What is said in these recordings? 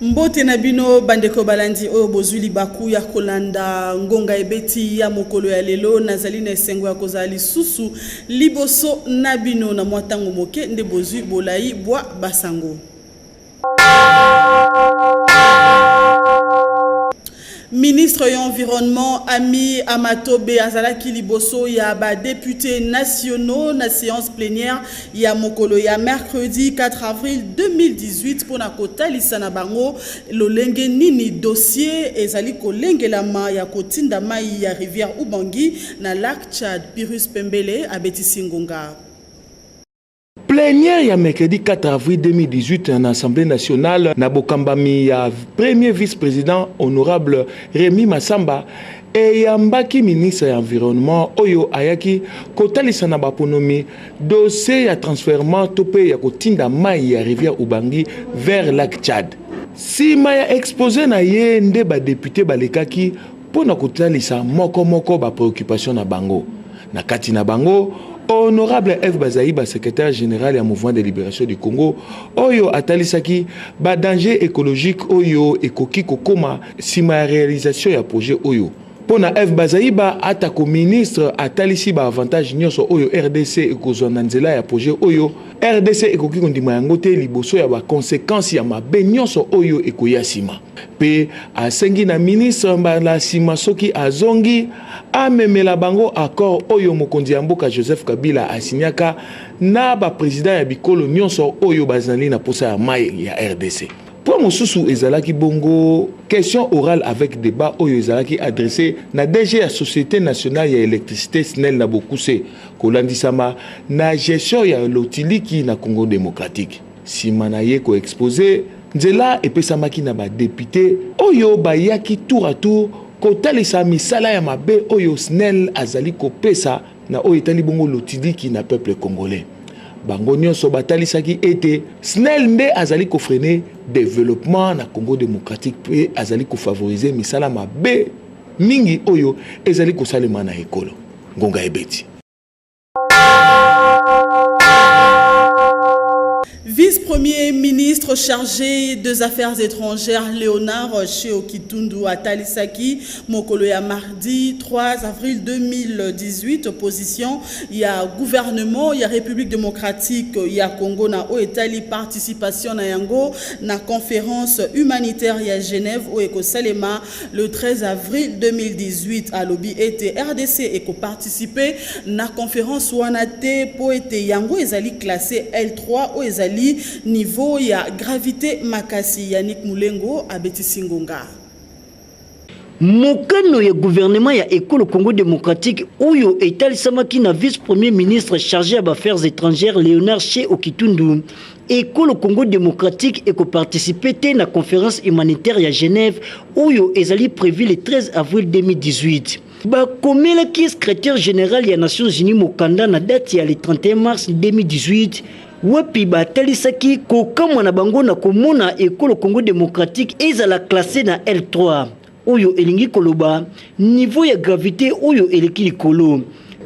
Mbote na bino bandeko balandi oyo bozwi libaku ya kolanda ngonga ebeti ya mokolo ya lelo. Nazali na esengo ya kozala lisusu liboso na bino na mwa ntango moke nde bozwi bolai bwa basango. Ministre ya Environnement Ami Amatobe azalaki liboso ya ba deputes nationaux na séance plénière ya mokolo ya mercredi 4 avril 2018 mpo na kotalisa na bango lolenge nini dossier ezali kolengelama ya kotinda mai ya rivière Ubangi na lac Tchad. Pyrrhus Pembele abetisi ngonga. Plenière ya mercredi 4 avril 2018 na Assemblée nationale na bokambami ya premier vice-president honorable Remy Massamba eyambaki ministre ya environnement oyo ayaki kotalisa na baponomi dossier ya transferment to mpe ya kotinda mai ya rivière Ubangi vers lac Tchad. Sima ya expose na ye nde ba deputes balekaki mpo na kotalisa moko moko ba preoccupation na bango na kati na bango honorable eve bazaiba secrétaire général ya mouvement de libération du congo oyo atalisaki badanger écologique oyo ekoki kokoma nsima ya réalisation ya projet oyo mpo na eve bazaiba atako ministre atalisi baavantage nyonso oyo rdc ekozwa na nzela ya projet oyo rdc ekoki kondima yango te liboso ya bakonsekansi ya mabe nyonso oyo ekoya nsima Mpe asengi na ministre mbala nsima soki azongi amemela bango accord oyo mokonzi ya mboka Joseph Kabila asinyaka na baprezida ya bikolo nyonso oyo bazali na mposa ya mai ya RDC. Point mosusu ezalaki bongo question orale avec debat oyo ezalaki adresse na DG ya Societe nationale ya electricité SNEL na bokuse kolandisama na gestion ya lotiliki na Congo democratique. Sima na ye ko exposer, nzela epesamaki na ba deputes oyo bayaki tour à tour kotalisa misala ya mabe oyo snel azali kopesa na oyo etali bongo lotidiki na peuple congolais. Bango nionso batalisaki ete snel nde azali ko freiner developpement na Congo democratique mpe azali ko favoriser misala mabe mingi oyo ezali kosalema na ekolo. Ngonga ebeti. Vice-premier ministre chargé des Affaires étrangères Léonard Sheokitundu Atalisaki mokolo ya mardi 3 avril 2018 opposition ya gouvernement ya République démocratique ya Congo na oyo etali participation na yango na conférence humanitaire ya Genève oyo ekosalema le 13 avril 2018 alobi ete rdc ekoparticipe na conference wana te mpo ete yango ezali classe l3 oyo ezali niveau ya gravite makasi yannick mulengo abetisi ngonga mokano ya gouvernement ya ekolo congo démocratique oyo etalisamaki na vice-premier ministre chargé ya baaffaires étrangères léonard che okitundu Ekolo Congo Democratique eko participer te na conference humanitaire ya Genève oyo ezali prevu le 13 avril 2018. Bakomelaki secretaire general ya Nations Unies mokanda na date ya le 31 mars 2018 wapi batalisaki kokamwa na bango na komona ekolo Congo Democratique ezala classe na L3. oyo elingi koloba niveau ya gravite oyo eleki likolo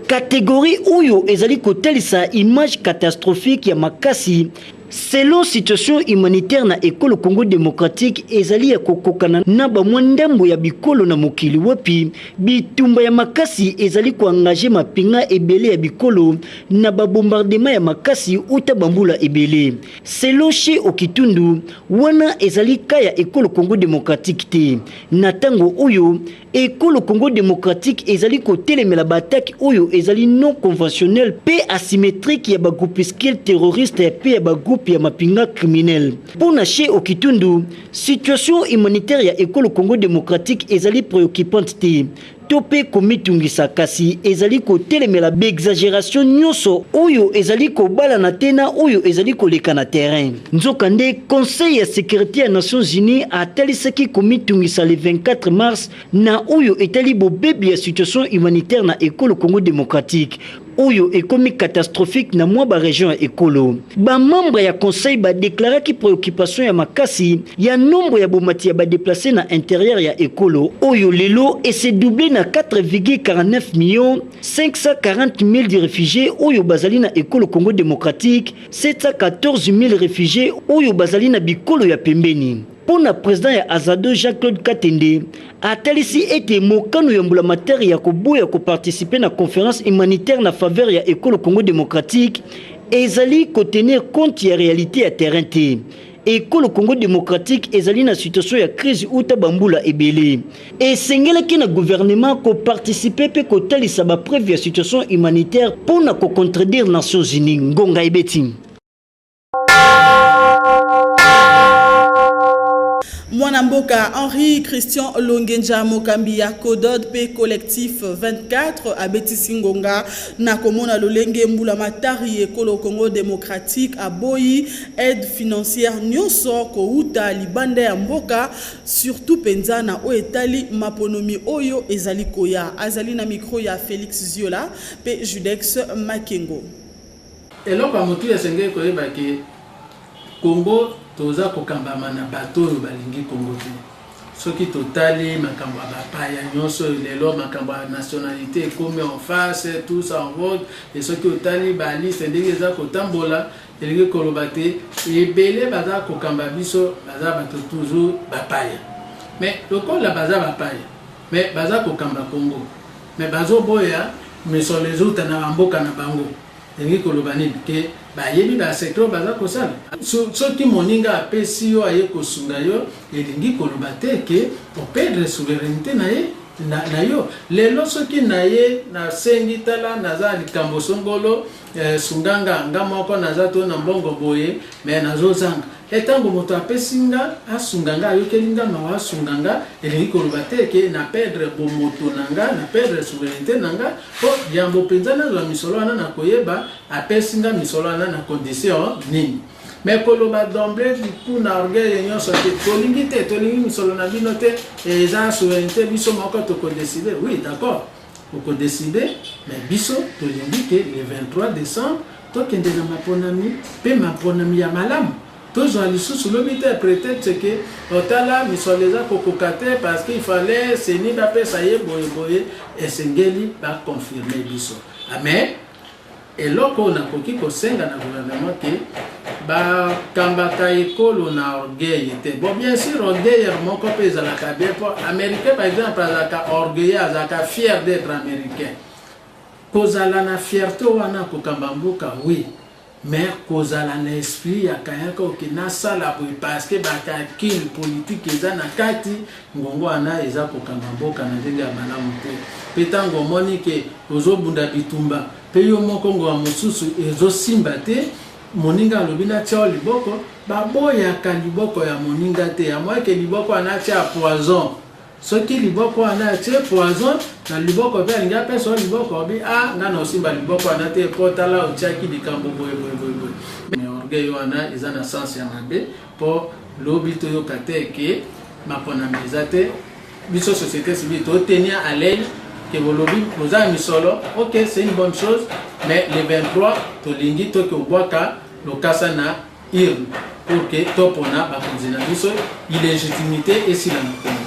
kategori oyo ezali kotalisa image catastrophique ya makasi selon situation humanitaire na ekolo congo démocratique ezali ya kokokana na bamwa ndambo ya bikolo na mokili wapi bitumba ya makasi ezali koengage mapinga ebele ya bikolo na babombardema ya makasi uta bambula ebele Selon Chez Okitundu, wana ezali cas ya Ekolo Congo democratique te. Na tango oyo, Ekolo Congo democratique ezali kotelemela ba attaques oyo ezali non conventionnelles mpe asymétriques ya ba groupuscules terroristes mpe ya ba groupes ya mapinga criminels. Mpo na Chez Okitundu, situation humanitaire ya Ekolo Congo democratique ezali preoccupante te, to mpe komitungisa kasi ezali kotelemela baexageration nyonso oyo ezali kobalana te na oyo ezali koleka na terrain nzokande conseil ya securite ya nations unies atalisaki komitungisa le 24 mars na oyo etali bobebi ya situation humanitaire na ekolo congo démocratique oyo ekomi catastrophique na mwa ba region ya ekolo. Ba membre ya conseil ba deklaraki preoccupation ya makasi ya nombre ya bomati ya ba deplace na interieur ya ekolo oyo lelo ese double na 4,49 millions 540.000 de refugies oyo bazali na ekolo Congo democratique, 714.000 refugies oyo bazali na bikolo ya pembeni. Mpo na president ya Azado Jean-Claude Katende, atalisi ete mokano ya mbulamatari ya koboya koparticiper na conference humanitaire na faveur ya ekolo Congo democratique ezali kotenir compte ya realite ya terrain te. Ekolo Congo democratique ezali na situation ya crise uta bambula ebele. Esengelaki na gouvernement koparticiper mpe kotalisa bapreuve ya situation humanitaire mpo na kocontredire Nations Unies. Ngonga ebeti. mwana mboka henri christian longenja mokambi ya codod mpe collectif 24 abetisi ngonga na komona lolenge mbula matari ekolo congo démocratique aboyi aide financière nyonso kouta libanda ya mboka surtout mpenza na oyo etali maponomi oyo ezali koya azali na mikro ya félix ziola mpe judex makengo Eloko ya motuya esengeli koyeba ke Congo toza kokambama na bato oyo balingi Congo te. Soki totali makambo ya bapaya nyonso oyo lelo makambo ya nationalite ekomi en face tous en vogue e soki otali baliste ndenge eza kotambola elingi koloba te ebele baza kokamba biso baza bato toujours bapaya mais lokola baza bapaya Mais baza kokamba Congo mais bazo boya misolo ezouta na ba mboka na bango elingi koloba nini ke bayebi ba secret oyo baza kosala so, soki moninga apesi yo aye kosunga yo elingi koloba te ke operdre souverainete na ye na, na yo lelo soki naye nasengi tala naza likambo songolo Eh, sunga nga nga moko naza to na mbongo boye me nazozanga e ntango moto apesi nga asunga nga ayokeli nga mawa asunga nga elingi koloba te ke na perdre bomoto na nga na perdre souveraineté na nga mpo yambo mpenza nazwa misolo wana na koyeba apesi nga misolo wana na condition nini me koloba domble kuna orgueil nyonso te tolingi te tolingi misolo na bino te eza souveraineté biso moko tokodeside oui d'accord Oko decider mais biso tolingi que le 23 decembre tokende na maponami pe maponami ya malamu. Tozwa lisusu lobi te pretexte que oh tala misolo eza kokoka te parce qu'il fallait ceni bapesa ye boye boye. Esengeli ba confirmer biso. Amen. Eloko oyo nakoki kosenga na gouvernement que ba kambaka ekolo na orgueil te. Bon bien sûr orgueil moko pe ezalaka bien po américain par exemple azalaka orgueilleux, azalaka fier d'être américain. Kozala na fierte wana kokamba mboka oui. Mais kozala na esprit ya kayaka oke nasala boye parce que bakakili politique eza na kati Mbonguana eza kokamba mboka na ndenge ya malamu te pe tango omoni ke ozobunda bitumba pe yo moko ngoa mosusu ezosimba te moninga alobi natia yo liboko baboyaka liboko ya moninga te ya moye ke liboko wana atia poison soki liboko wana atie poison na liboko pe alingi apesa yo liboko obi a ah, nga na osimba liboko wana te po tala otiaki likambo boye boye boye boye orgueil wana eza na sens ya mabe Po lobi toyoka te ke maponami eza te biso société civile to tenir à l'aile que bolobi boza ya misolo ok c'est une bonne chose mais le 23 tolingi toki obwaka lokasa na urne pour que topona bakonzi na biso illégitimité esila na kongo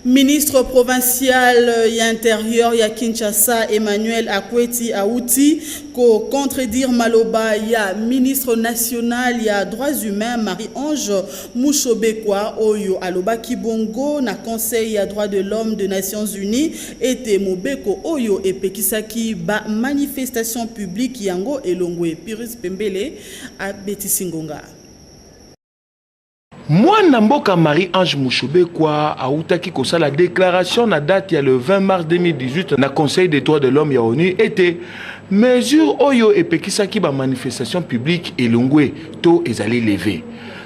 Ministre provincial ya interieur ya Kinshasa Emmanuel Akweti auti ko contredire maloba ya ministre national ya droits humains Marie-Ange Mushobekwa oyo alobaki bongo na Conseil ya droits de l'homme de Nations Unies ete mobeko oyo epekisaki ba manifestation publique yango elongwe. Piris Pembele abetisi ngonga. Mwana mboka Marie-Ange Mushobekwa awutaki kosala declaration na date ya le 20 mars 2018 na Conseil des droits de l'homme ya ONU ete mesure oyo epekisaki ba manifestation publique elongwe to ezali leve.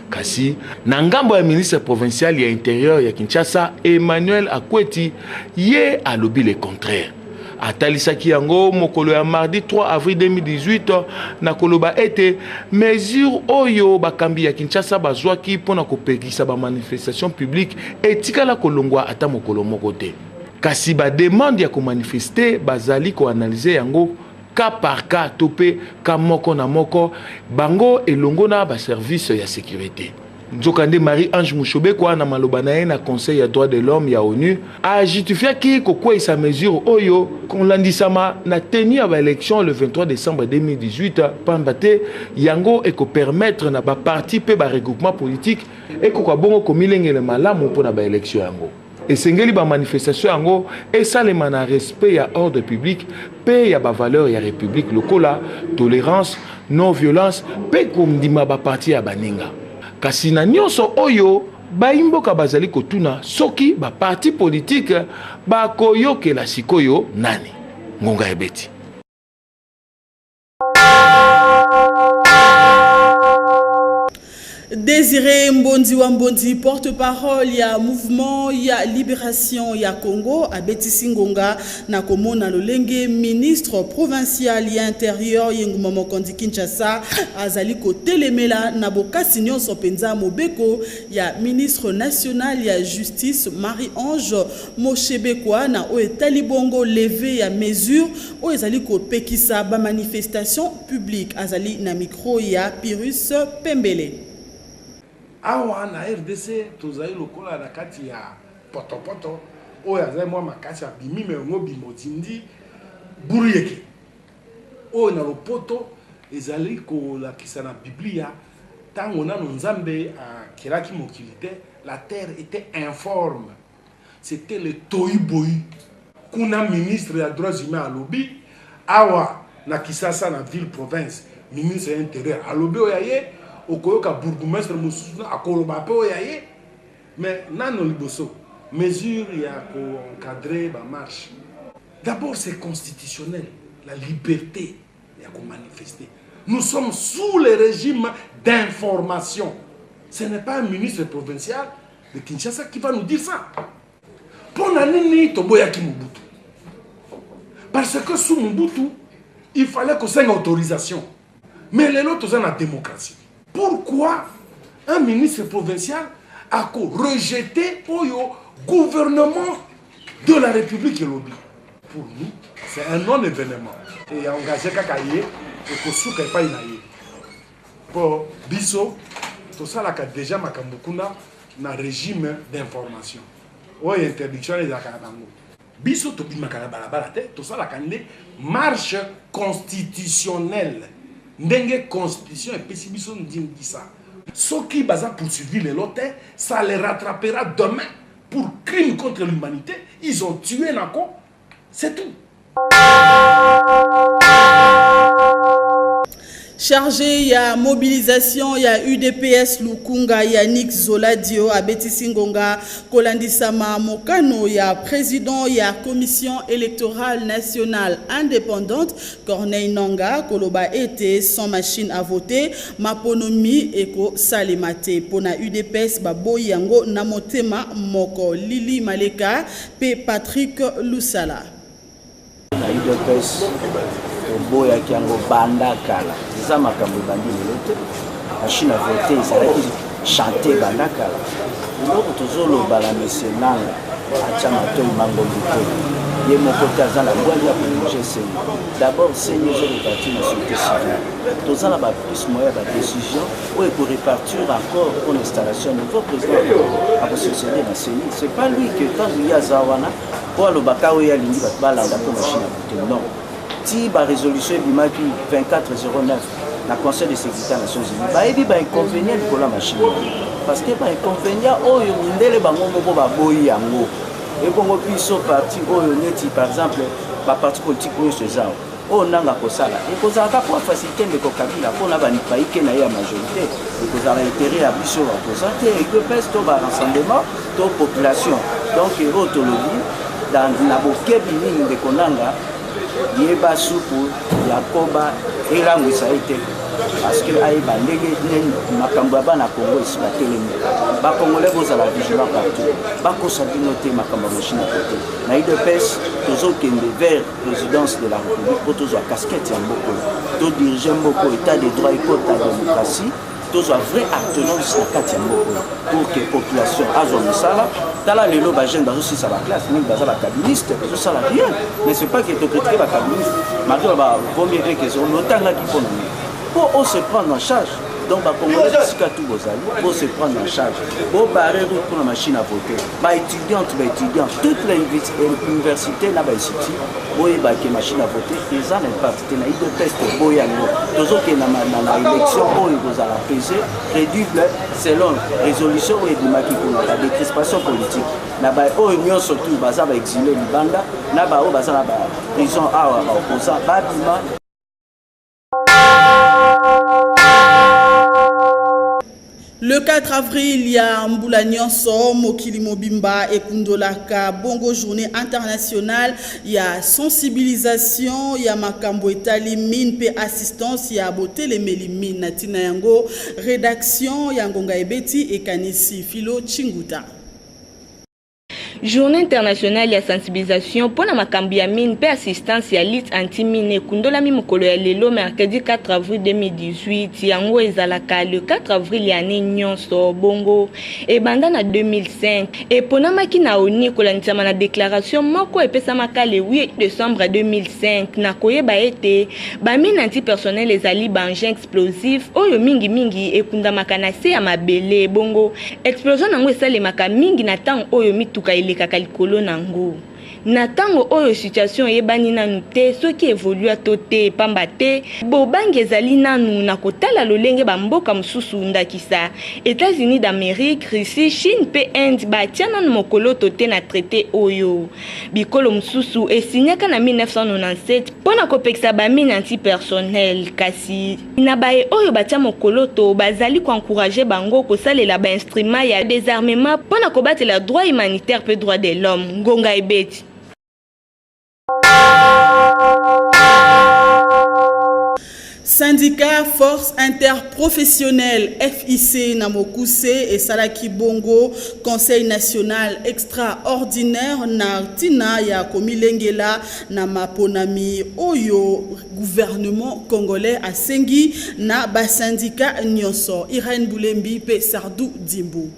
Kasi na ngambo ya ministre provincial ya interieur ya Kinshasa Emmanuel Akweti ye alobi le contraire. atalisaki yango mokolo ya mardi 3 avril 2018 na koloba ete mesure oyo bakambi ya kinshasa bazwaki mpo na kopekisa bamanifestation publique etikala kolongwa ata mokolo moko te kasi bademande ya komanifeste bazali koanalyze yango ka par ka to mpe ka moko na moko bango elongo na baservice ya securite Nzokande, Marie-Ange Mushobekwa, na maloba na ye na Conseil ya droits de l'homme ya onu, a justifiaki kokweisa mesure oyo kolandisama na tenue ya ba elections le 23 decembre 2018 pamba te yango eko permettre na ba partis mpe ba regroupements politiques ekoka bongo komilengele malamu mpo na ba elections yango. Esengeli ba manifestations yango esalema na respect ya ordre public mpe ya ba valeurs ya Republique lokola tolerance, non-violence mpe kondima ba partis ya baninga. Kasi na nionso oyo, bayi mboka bazali kotuna soki ba partis politiques bakoyokela sikoyo nani? Ngonga ebeti. Désiré Mbondi Wambondi, porte-parole ya mouvement ya libération ya Congo, abetisi ngonga na komona lolenge ministre provincial ya intérieur Yenguma Mokondi Kinshasa azali kotelemela na bokasi nyonso mpenza mobeko ya ministre national ya justice Marie-Ange Moshebekwa na oyo etali bongo levee ya mesure oyo ezali kopekisa ba manifestations publiques. Azali na micro ya Pyrrhus Pembele. Awa na rdc tozali lokola na kati ya potopoto oyo azali mwa makasi abimi me yango obima otindi buruyeke oyo na lopoto ezali kolakisa na biblia ntango nano nzambe akelaki mokili te la terre etait informe C'etait le toyi-boyi. Kuna ministre ya droits humains alobi, awa na Kisasa na ville province ministre ya interieur alobi oyo ya ye, okoyoka bourgoumestre mosusu akoloba pe oyo ya ye. Mais nanu liboso mesure ya ko encadrer ba marches. D'abord c'est constitutionnel la liberte ya ko manifester. Nous sommes sous le regime d'information. Ce n'est pas un ministre provincial Le Kinshasa qui va nous dire ça mpo na nini toboyaki mobutu parce que sous mobutu il fallait kosenga autorisation mais lelo toza na démocratie pourquoi un ministre provincial ako rejete oyo gouvernement de la république elobi pour nous c'est un non événement eya engage kaka ye ekosuka epai na ye Po biso tosalaka deja makambo kuna na regime d'information oyo interdiction ezalaka na bango. Biso tobimaka na balabala te, tosalaka nde marche constitutionnelle ndenge constitution epesi biso ndingisa. Soki baza poursuivi lelo te, ça les rattrapera demain pour crime contre l'humanité, ils ont tué nako c'est tout charge ya mobilisation ya udps lukunga yannick zoladio abetisi ngonga kolandisama mokano ya président ya commission électorale nationale indépendante corneille nanga koloba ete sans machine à voter maponomi ekosalema te mpo na udps baboyi yango na motema moko lili maleka Mpe Patrick Lusala. na udps toboyaki yango banda kala eza makambo ebandi lelo te machine a vote ezalaki chante banda kala eloko tozoloba na monsieur nanga atya matoi mangombi te ye moko te aza na bwali ya kolinge seni d'abord seni ezoleka ti na société civile toza na baplus moya ya badécision oyo ko repartir encore pour l'installation de nouveau président ako succéder na CENI c'est pas lui que ntango ye aza wana mpo alobaka oyo alingi bato balanda mpo machine ya kote non ti barésolution ebimaki 2409 na conseil de sécurité ya nations unis bayebi bainconvénient likolo ya machine parce que bainconvénient oyo mindele bango moko baboyi yango ebongo biso parti oyo neti par exemple baparti politique nyonso eza Oyo nanga akosala ekozala kaka mpo facilite ndeko Kabila mpo na baike na ye ya majorite ekozala interet ya biso bakoza te udps to barassemblement to population donc oyo tolobi na bokebi mingi ndeko nanga yeba supu ya koba elangwisa ye te parceke ayeba ndenge nini makambo ya bana kongo esi batelemi bakongole bozala vigilant partout bakosa bino te makambo ya moshina kote na idps tozokende vers présidence de la république mpo tozwa casquette ya mboka oyo todirige mboka oyo état de droit ekota démocratie tozwa vrai artenance na kati ya mboka oyo pour que population azwa mosala tala lelo bajeune bazosilisa baklasse mingi baza bakabiliste bazosala rien mais c'est pas que tokritike bakabiliste malgre bavomie eke lotangaki mpo na nini mpo ose prendre en charge donc bacongolais bisika tu bozali bose prendre en charge bobare route mpona machine à voter baétudiante baétudiant toute la euh, université na bainstitut boyebake machine à voter eza na impact te na ido test boye yango tozokenda na élection oyo ekozala pese crédible selon résolution oyo ebimaki kuna la décrispation politique na baoyo nyonso tu baza baexile libanda na baoyo baza na baprison awa baoposa babima Le 4 avril ya mbula nyonso mokili mobimba ekundolaka bongo journée internationale ya sensibilisation ya makambo etali mine mpe assistance ya botelemeli mine na ntina yango rédaction ya ngonga ebeti ekanisi filo chinguta Journée internationale ya sensibilisation mpo na makambo ya mine mpe assistance ya lutte anti-mine ekundolami mokolo ya lelo mercredi 4 avril 2018. Yango ezalaka le 4 avril ya année nyonso, bongo ebanda na 2005. Eponamaki na ONU kolandisama na declaration moko epesamaka le 8 decembre 2005 na koyeba ete bamine antipersonnel ezali baengins explosif oyo mingimingi ekundamaka na se ya mabele bongo explosion na yango esalemaka mingi na ntango oyo mituka elekaka likolo na yango na ntango oyo situation eyebani nanu te soki evolua to te pamba te bobangi ezali nanu na kotala lolenge bamboka mosusu ndakisa etats-unis d'amérique russie chine mpe inde batia nanu mokoloto te na traite oyo Bikolo mosusu esinyaka na 1997 mpo na kopekisa bamine antipersonnel, kasi na baye oyo batya mokoloto bazali koencourage bango kosalela bainstrima ya desarmema mpo na kobatela droit humanitaire mpe droit de l'homme. Ngonga ebeti. Sindika Force Interprofessionnelle FIC na mokuse esalaki bongo Conseil national extraordinaire na ntina ya komilengela na maponami oyo gouvernement congolais asengi na basindika nyonso. Irène Bulembi mpe Sardou Dimbu.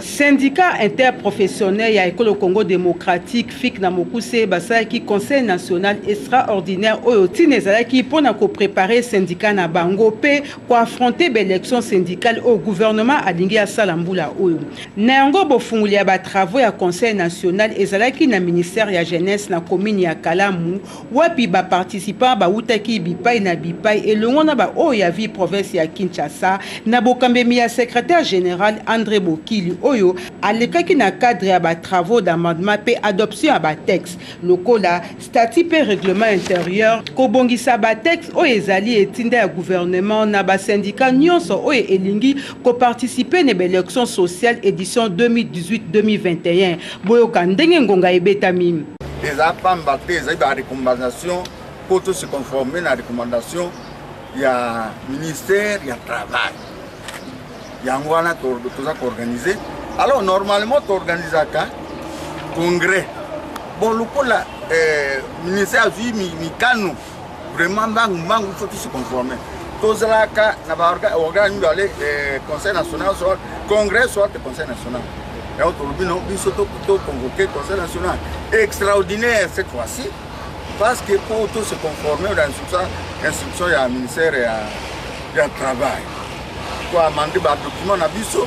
Syndicat interprofessionnel ya ekolo Congo démocratique FIC na mokuse basalaki conseil national extraordinaire oyo ntina ezalaki mpo na koprepare syndicat na bango mpe koaffronte baélection syndicale oyo gouvernement alingi asala mbula oyo na yango bofungoli ya batravaux ya conseil national ezalaki na ministère ya jeunesse na commune ya kalamu wapi ba participants bawutaki bipai na bipai elongo na ba oyo ya ville province ya Kinshasa na bokambemi ya secretaire general Andre Bokili oyo alekaki na cadre ya ba travaux d'amendement mpe adoption ya ba textes lokola statuts mpe règlement interieur, kobongisa ba textes oyo ezali etinda ya gouvernement na ba syndicats nionso oyo elingi ko participer ne ba elections sociales edition 2018-2021. Boyoka ndenge ngonga ebetami. Eza pamba te ezali ba recommandation mpo to se conformer na recommandation ya ministère ya travail. Yango wana toza koorganize. Alors normalement toorganisaka congrès bon lokola eh, ministère azwi mikano Vraiment mbangu mbangu faut tous se conformer. Tozalaka na ba organe mibale eh, conseil national soit congrès soit conseil national. yango tolobi na biso toconvoke conseil national extraordinaire cette fois-ci parce que mpo to se conformer na instruction ya ministère ya, ya travail koamande badocument na biso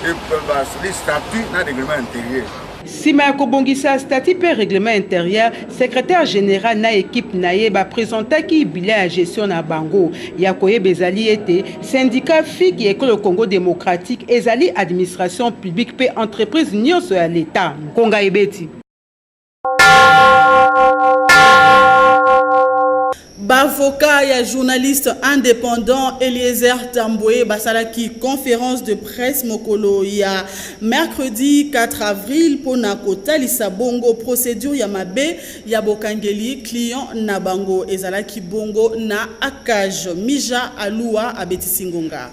et bastatut na règlement intérieur Sima ya kobongisa statut mpe règlement interieur, secretaire general na equipe na ye ba presentaki bilan ya gestion na bango. Ya koyeba ezali ete syndicat FIC ya ekolo Congo democratique ezali administration publique mpe entreprise nionso ya l'Etat. Nkonga ebeti. B'avocats ya journaliste independant Eliezer Tambwe basalaki conference de presse mokolo ya mercredi 4 avril mpo na kotalisa bongo procedure ya mabe ya bokangeli client na bango ezalaki bongo na ACAJ. Mija Alua abetisi ngonga.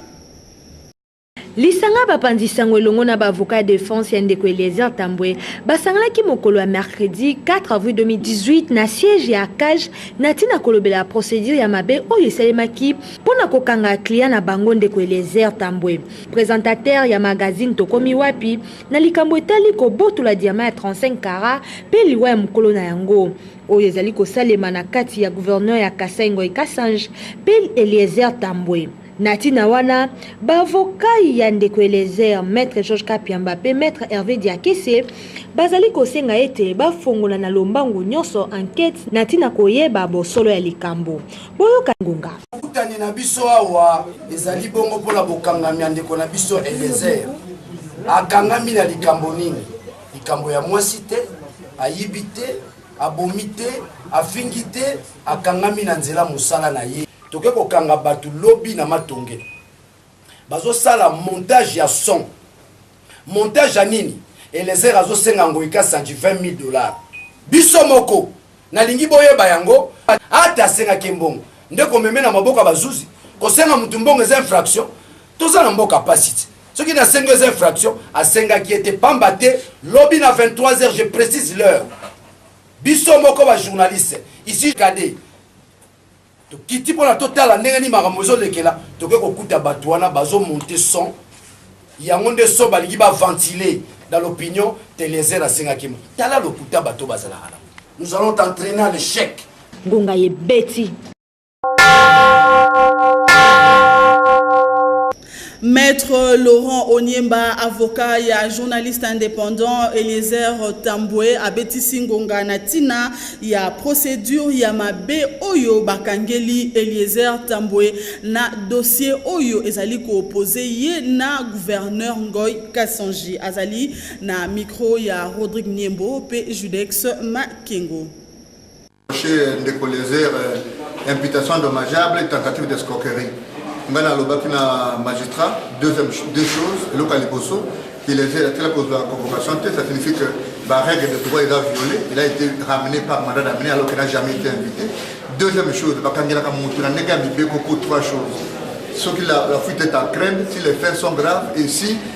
Lisanga ya bapanzi sango elongo na ba avocats ya defense ya ndeko Eliezer Tambwe basanganaki mokolo ya mercredi 4 avril 2018 na siège ya CAJ na ntina kolobela procedure ya mabe oyo esalemaki mpo na kokanga client na bango ndeko Eliezer Tambwe presentateur ya magazine Tokomi wapi na likambo etali kobotola diamant ya 35 kara mpe liwa ya mokolo na yango oyo ezali kosalema na kati ya gouverneur ya Kasai Ngoy Kasange mpe Eliezer Tambwe. Na ntina wana, bavokai ya ndeko Eliezer, Maitre Georges Kapiamba mpe Maitre Herve Diakese bazali kosenga ete bafongola na lombangu nyonso ankete na ntina koyeba bosolo ya likambo. Boyoka ngonga. Bokutani na biso awa ezali bongo mpo na bokangami ya ndeko na biso Eliezer. Akangami na likambo nini? Likambo ya mwasi te, ayibi te, abomi te, afingi te, akangami na nzela mosala na ye. Toke kokanga batu lobi na matonge bazo sala montage ya son montage ya nini Elezer azo senga ngoyi kasanji 20000 dollars biso moko nalingi boyeba yango ata asengaki mbongo nde komeme na maboko ya bazuzi kosenga mutu mbongo eza infraction toza na mboka pasi ti soki nasengi eza infraction asengaki ye te pamba te lobi na 23 heures je précise l'heure biso moko bajournaliste ici kade Tokiti pona totala ndenge nini makambo ezolekela, toke kokuta batu wana bazo monter son, yango nde son balingi ba ventiler dans l'opinion, t'Eliezer asengaki ma. Tala lokuta batu oyo bazalaka nango. Nous allons t'entrainer à l'echec. Ngonga ebeti. Maître Laurent Onyemba, avocat ya journaliste indépendant Eliezer Tambwe abetisi ngonga na tina ya procédure ya mabe oyo bakangeli Eliezer Tambwe na dossier oyo ezali koopose ye na gouverneur Ngoy Kasanji. Azali na micro ya Rodrigue Niembo pe Judex Makengo. Chez Ndeko Lezer, imputation dommageable, tentative d'escroquerie. ngai nalobaki na magistrat deuxième deux choses eloko ya liboso kilese atela kozwa convocation te ça signifie que barègle de droit eza violé il a été ramené par mandat d'amener alors qu'il n'a jamais été invité deuxième chose bakangelaka motu na ndenge ya mibeko pour trois choses soki la, la fuite est en crainte si les faits sont graves et si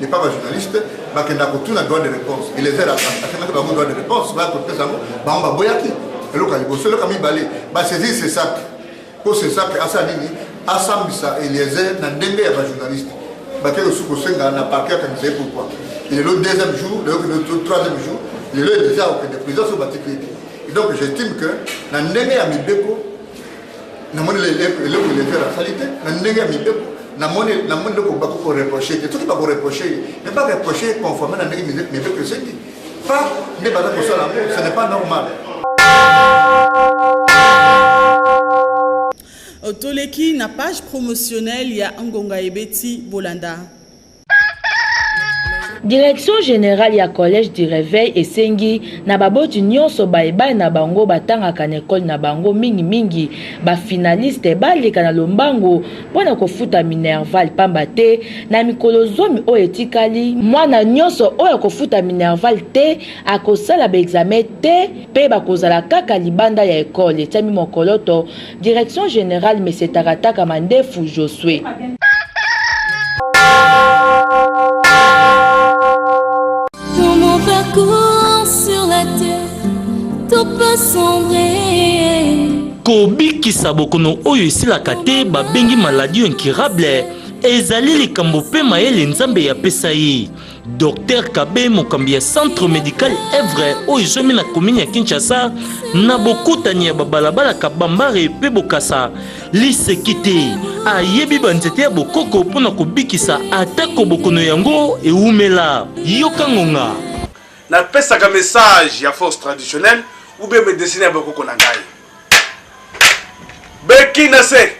n'est pas ba journaliste bakenda kotuna droit de réponse eliezer akendaki bango droit de réponse baya kopesa yango bango baboyaki eloko ya liboso eloko ya mibale basaisir sesak mpo sesak asala nini asambisa eliezer na ndenge ya bajournaliste bakei kosusu kosenga na parke akanisa ye pourkoi lelo deuxième jour lelo troisième jour lelo eliezer akokende prison so batiki ete donc j'estime que na ndenge ya mibeko namoni eleko elevere asali te na ndenge ya mibeko namoni namoni eloko bako koreproche te soki bakoreproche ye me bareproche conforme na ndenge mibeko esengi pa nde baza kosala yango ce n'est pas normal toleki na page promotionnelle ya ngonga ebeti bolanda Direction generale ya Collège du Reveil esengi na baboti nyonso baye bana na bango batangaka na ekole na bango mingi mingi ba finaliste baleka na lombango mpo na kofuta Minerval pamba te na mikolo zomi oyo etikali mwana nyonso oyo akofuta Minerval te akosala ba examen te mpe bakozala kaka libanda ya ekole etiami mokoloto Direction generale Monsieur Takataka Mandefu Josue. Dans mon parcours sur la terre, tout peut sombrer. kobikisa bokono oyo esilaka te babengi maladie incurable ezali likambo mpe mayele nzambe yapesa ye Docteur Kabe, mokambi ya centre medical Evre oyo ezwami na komini ya Kinshasa na bokutani ya babalabala Kabambare mpe Bokasa, liseki te ayebi banzete ya bokoko mpo na kobikisa atako bokono yango ewumela. Yoka ngonga. Napesaka message ya force traditionnelle ou bien medecine ya bokoko na ngai. Beki na se,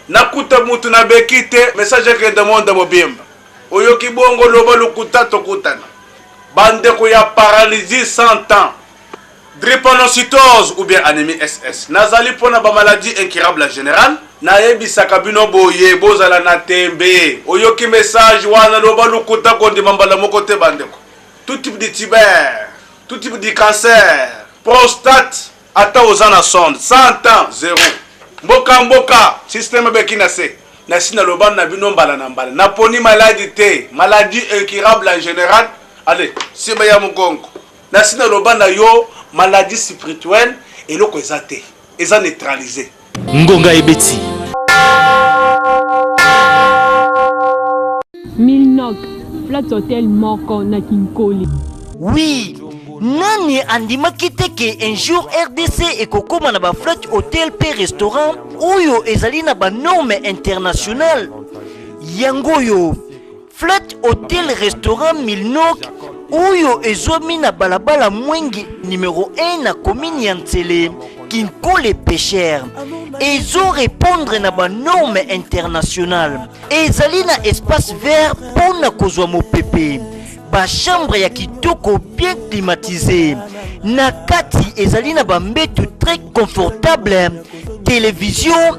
nakuta mutu na beki te, message ekende monde mobimba. Oyoki bongo loba lokuta tokutana ba ndeko ya paralysie sans temps drepanocytose ou bien anemie SS nazali pona ba maladie incurable en general nayebisaka bino boye bozala na tembe oyoki message wana loba lokuta kondima mbala moko te ba ndeko tout type de tuber tout type de cancer prostate Ata oza na sonde 100 ans zero mboka mboka système beki na se na si na loba na bino mbala na mbala na poni maladi te maladie incurable en général ale siba ya mugongo na si na loba na yo maladie spirituelle eloko eza te eza neutraliser Ngonga ebeti. Milnok, flat hotel moko na Kinkoli. Oui, nani andimaki te ke un jour rdc ekokoma na baflat hotel mpe restaurant oyo ezali na banorme internationale yango oyo Flat Hotel Restaurant Milnok oyo ezwami na balabala Mwenge numero 1 na komini ya Nsele Kinkole Pêcheur ezo repondre na ba norme internationale ezali na espace vert mpo na kozwa mopepe ba chambre ya kitoko bien climatise na kati ezali na bambetu très confortable televizio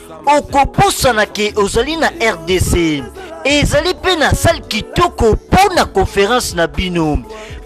okobosana ke ozali na rdc ezali mpe na sale kitoko mpo na conference na bino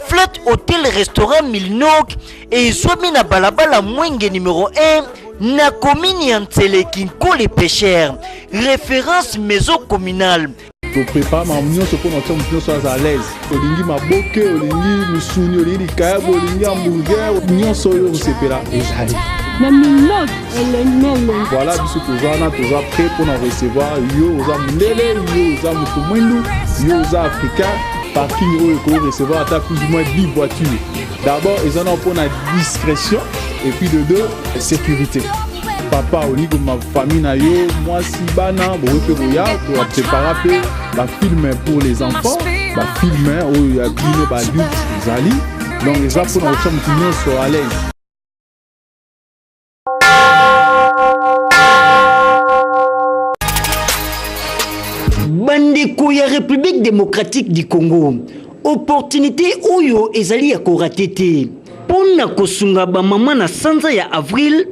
flat hotel restaurant milnok ezwami na balabala mwenge numero 1 na komini ya nseleki nkole pesher référence maison communale toprepare makambo nyonso mpo na kotia moto nyonso aza alaise olingi maboke olingi misuni olingi likayabo olingi hamburger nyonso oyo osepela ezali na minot elemele voilà biso toza wana toza prêt mpo na recevoir yo oza mondele yo oza moto mwindu yo oza africain parking oyo ekoki recevoir ata plus ou moins 10 voitures d'abord eza na mpo na discrétion et puis de deux sécurité papa onigo mafamille na yo mwasi bana bokoki mpe koya koprepara mpe bafilme pour les enfants bafilme oyo ya bino baadulte ezali donc eza mpo na kotya motu nyonso alaise bandeko ya république démocratique du congo Opportunite oyo ezali ya korate te. Mpo na kosunga bamama na sanza ya avril,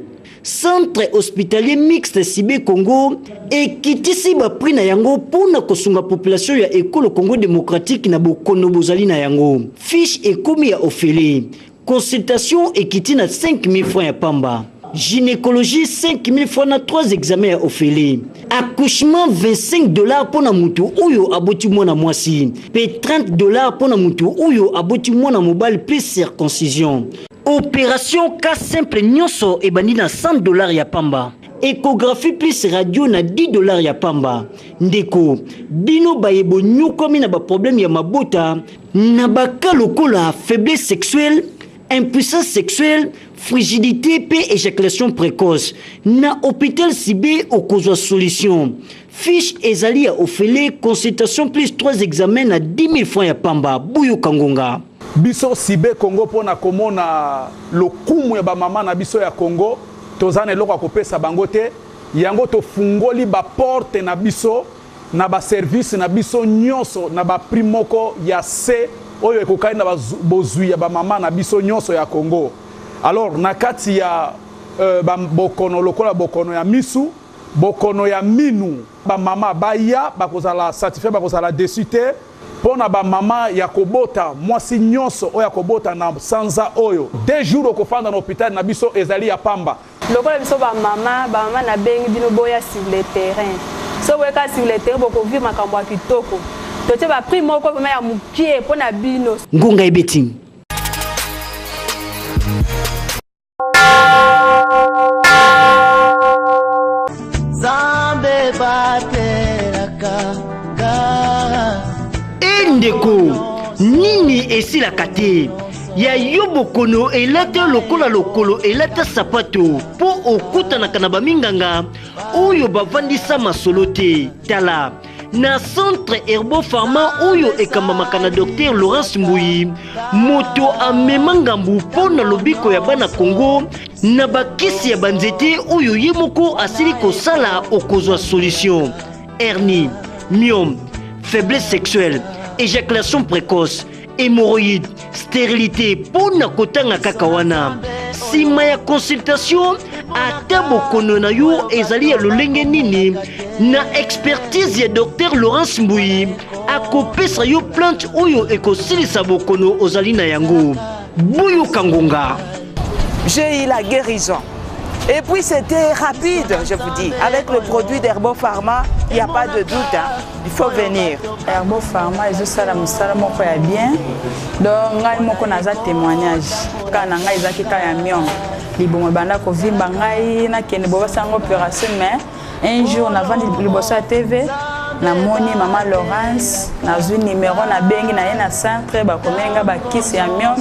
Centre hospitalier mixte Sibe Congo ekitisi ba prix na yango mpo na kosunga population ya ekolo Congo democratique na bokono bozali na yango. Fiche ekomi ya ofele. Consultation ekiti na 5000 francs ya pamba. Gynecologie 5000 francs na 3 examens ya ofele. Accouchement 25 dollars mpo na moto oyo aboti mwana mwasi mpe 30 dollars mpo na moto oyo aboti mwana mobali mpe circoncision. Operation cas simple nyonso ebandi na 100 dollars ya pamba. Echographie plus radio na 10 dollars ya pamba. Ndeko, bino baye bonyokwami na baproblème ya mabota, Na ba cas lokola faiblesse sexuelle, impuissance sexuelle, frigidite pe ejaculation precoce, na hopital Sibe okozwa solution. Fiche ezali ya ofele, consultation plus trois examens na 10 000 francs ya pamba. Boyoka ngonga. Biso Sibe Congo po na komona lokumu ya ba mama na biso ya Congo, tozali na eloko ya kopesa bango te, yango tofungoli ba porte na biso. na ba service na biso nionso na ba prix moko ya se oyo ekokani na bozwi ya ba mama na biso nionso ya Congo alors na kati ya euh, ba bokono lokola bokono ya misu bokono ya minu ba mama baya bakozala satisfait bakozala deçu te mpo na bamama ya kobota mwasi nyonso oyo akobota na sanza oyo de jour okofanda na hopitale na biso ezali ya pamba Lokola biso ba mama, ba mama na bengi bino boya sur le terrain. Soki boye ka sur le terrain boko vivre makambo ya kitoko. Totie ba prix moko vraiment ya mukie pona bino. Ngonga ebeti. ndeko nini esilaka te ya yo bokono elata yo lokola lokolo elata sapato mpo okutanaka na baminganga oyo bavandisa masolo te tala na centre herbo pharma oyo ekambamaka na dr laurence mbuyi moto amema ngambu mpo na lobiko ya bana congo na bakisi ya banzete oyo ye moko asili kosala okozwa solution hernie myome faiblesse sexuelle éjaculation précoce hemorroïde sterilité mpo na kotanga kaka wana nsima ya consultation ata bokono na yo ezali ya lolenge nini na expertise ya dr laurence mbuyi akopesa yo plante oyo ekosilisa bokono ozali na yango Boyoka ngonga. J'ai eu la guérison. Et puis c'était rapide, je vous dis. Avec le produit d'Herbo Pharma, il n'y a pas de doute. Hein. Il faut venir. Herbo Pharma, ils ont ça, musala moko ya bien. Donc ngai moko naza témoignage. Kana ngai ezaki ka ya mion. Libongo banda ko vimba ngai na kende bo basanga opération mais un jour navandi liboso ya tv namoni mama laurence nazwi nimero nabengi na ye na centre bakomeli nga bakisi ya mion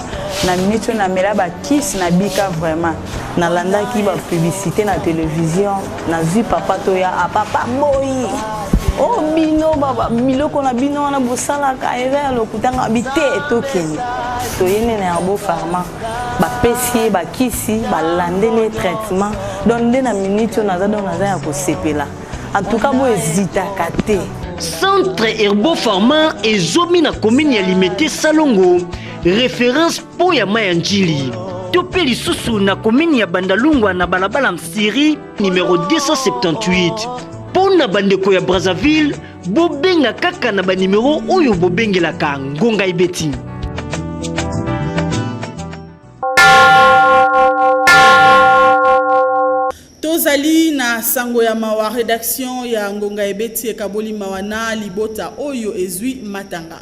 na miniti oyo namela bakisi nabika vraiment nalandaki bapublicité na televizio nazwi papa toya a ah, papa boyi o oh, bino biloko na bino wana bosalaka eza ya lokutanga bite tokende toyende na yango farma bapesi ye bakisi balandeli ye traitement donc nde na minute oyo naza donc naza ya kosepela en tout cas bo ezitaka te centre herbo pharma ezomi na komini ya limete salongo référence mpo ya mai ya njili to mpe lisusu na komini ya bandalungwa na balabala msiri numero 278 mpo na bandeko ya brazzaville Bobenga kaka na banimero oyo bobengelaka ngonga ebeti. tozali na sango ya mawa redaction ya ngonga ebeti ekaboli mawa na libota oyo ezwi matanga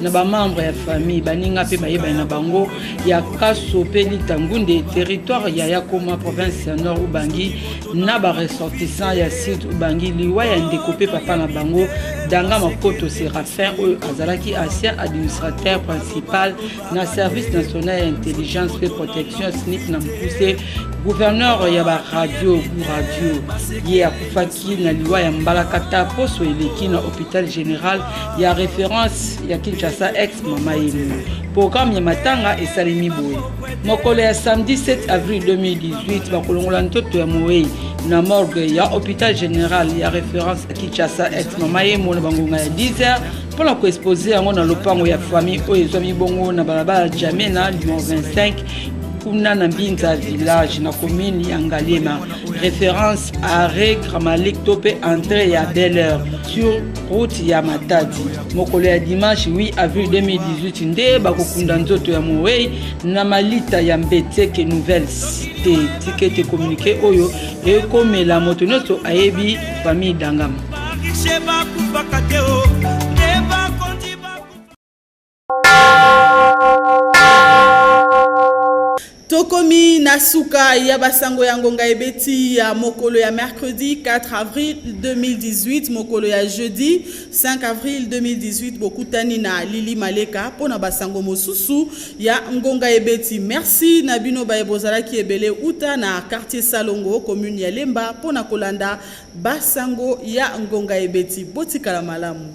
na bamembre ya famille baninga mpe bayebani na bango ya kaso mpe litangunde territoire ya yakoma province ya nord ubangi na baressortissant ya sud ubangi liwa ya ndeko mpe papa na bango danga makoto serafin oyo azalaki ancien administrateur principal na service national ya intelligence mpe protection snip na mokuse gouverneur ya baradio radio ye akufaki na liwa ya mbalakata poso eleki na hôpital général ya reference ya Kinshasa ex mama yemo. Programme ya matanga esalemi boye. Mokolo ya samedi 7 avril 2018 bakolongola ntoto ya moweyi na morgue ya hôpital général ya référence ya Kinshasa ex mama yemo na bangonga ya 10h mpo na koexpose yango na lopango ya famille oyo ezwami bongo na balabala Jamena numero 25 kuna na mbinza village na commune ya ngaliema référence arrêt gramalik to mpe entrée ya belle heure sur route ya matadi mokolo ya dimanche 8 avril 2018 nde bakokunda nzoto ya mowei na malita ya mbeteke nouvelle cité tikete communiqué oyo ekomela moto nyonso ayebi famille dangama tokomi na suka ya basango ya ngonga ebeti ya mokolo ya mercredi 4 avril 2018 mokolo ya jeudi 5 avril 2018 bokutani na lili maleka mpo na basango mosusu ya ngonga ebeti merci na bino baye bozalaki ebele uta na quartier salongo commune ya lemba mpo na kolanda basango ya ngonga ebeti botikala malamu